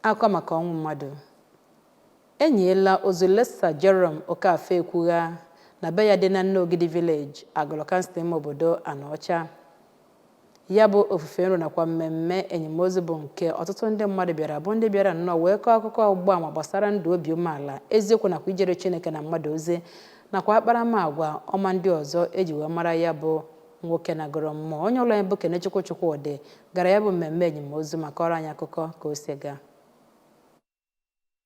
Akụkọ maka ọnwụ mmadụ enyiela ozu Late Sir Jerome Okafor Ekwugha na be ya dị na Nneogidi Village, Agụlụ Kansụl ime obodo Anaọcha. Ya bụ ofufe nro nakwa mmemme enyemozu bụ nke ọtụtụ ndị mmadụ bịara bụ ndị bịara nnọọ wee kọọ akụkọ ọgbụgba ama gbasara ndụ obi umeala, eziokwu nakwa ijere Chineke na mmadụ ozi nakwa akparamagwa ọma ndị ọzọ e ji wee mara ya bụ nwoke nagoro mmụọ onye ụlọ anyị bụ Kenechukwu Chukwudị gara ya bụ mmemme enyimozu ma kọọrọ anyị akụkọ ka o si gaa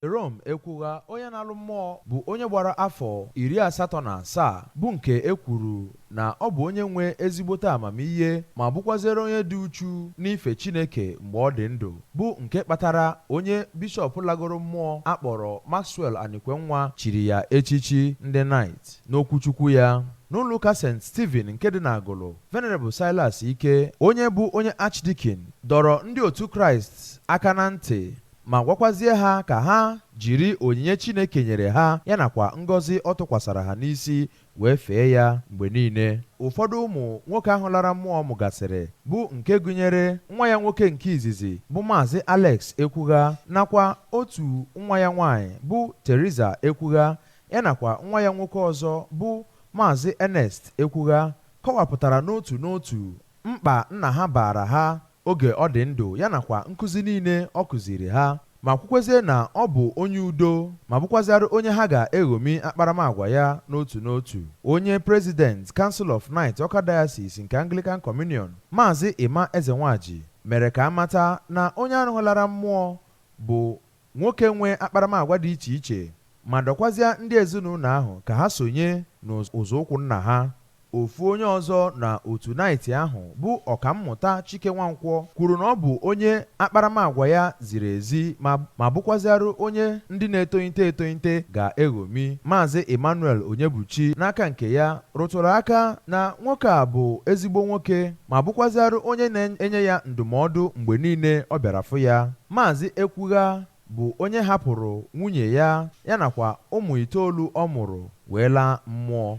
Jerome Ekwugha onye nalụ mmụọ bụ onye gbara afọ iri asatọ na asaa bụ nke e kwuru na ọ bụ onye nwe ezigbote amamihe ma bụkwazere onye dị uchu n'ife Chineke mgbe ọ dị ndụ bụ nke kpatara onye bishọp lagoro mmụọ a kpọrọ Maxwell Anikwenwa chiri ya echichi ndị Knight N'okwuchukwu ya n'ụlọụka St. Stephen nke dị n'Agụlụ, Venerable Silas Ike, onye bụ onye Archdeacon, dọrọ ndị otu Kraịst aka na ntị ma gwakwazie ha ka ha jiri onyinye Chineke nyere ha ya nakwa ngọzi ọ tụkwasara ha n'isi wee fee ya mgbe niile. Ụfọdụ ụmụ nwoke ahụ lara mmụọ mụgasịrị bụ nke gụnyere nwa ya nwoke nke izizi bụ Maazị Alex Ekwugha nakwa otu nwa ya nwaanyị bụ Theresa Ekwugha ya nakwa nwa ya nwoke ọzọ bụ Maazị Ernest Ekwugha kọwapụtara n'otu n'otu mkpa nna ha baara ha oge ọ dị ndụ ya nakwa nkụzi niile ọ kụziiri ha ma kwukwezie na ọ bụ onye udo ma bụkwazịara onye ha ga-eghomi akparamagwa ya n'otu n'otu. Onye President Council of Knight Awka Diocese nke Anglican Communion, Maazị Emma Ezenwaji mere ka a mata na onye ahụ lara mmụọ bụ Nwoke nwe akparamagwa dị iche iche ma dọkwazịa ndị ezinaụlọ ahụ ka ha sonye n'ụzọụkwụ nna ha. Ofu onye ọzọ na otu Knight ahụ bụ Ọkammụta Chike Nwankwọ kwuru na ọ bụ onye akparamagwa ya ziri ezi ma bụkwazịarụ onye ndị na-etonite etonite ga-eghomi. Maazị Emmanuel Onyebuchi n'aka nke ya rụtụrụ aka na nwoke a bụ ezigbo nwoke. ma bụkwaziarụ onye na-enye ya ndụmọdụ mgbe niile ọ bịara fụ ya. Maazị Ekwugha bụ onye hapụrụ nwunye ya, ya nakwa ụmụ itoolu ọ mụrụ wee laa mmụọ.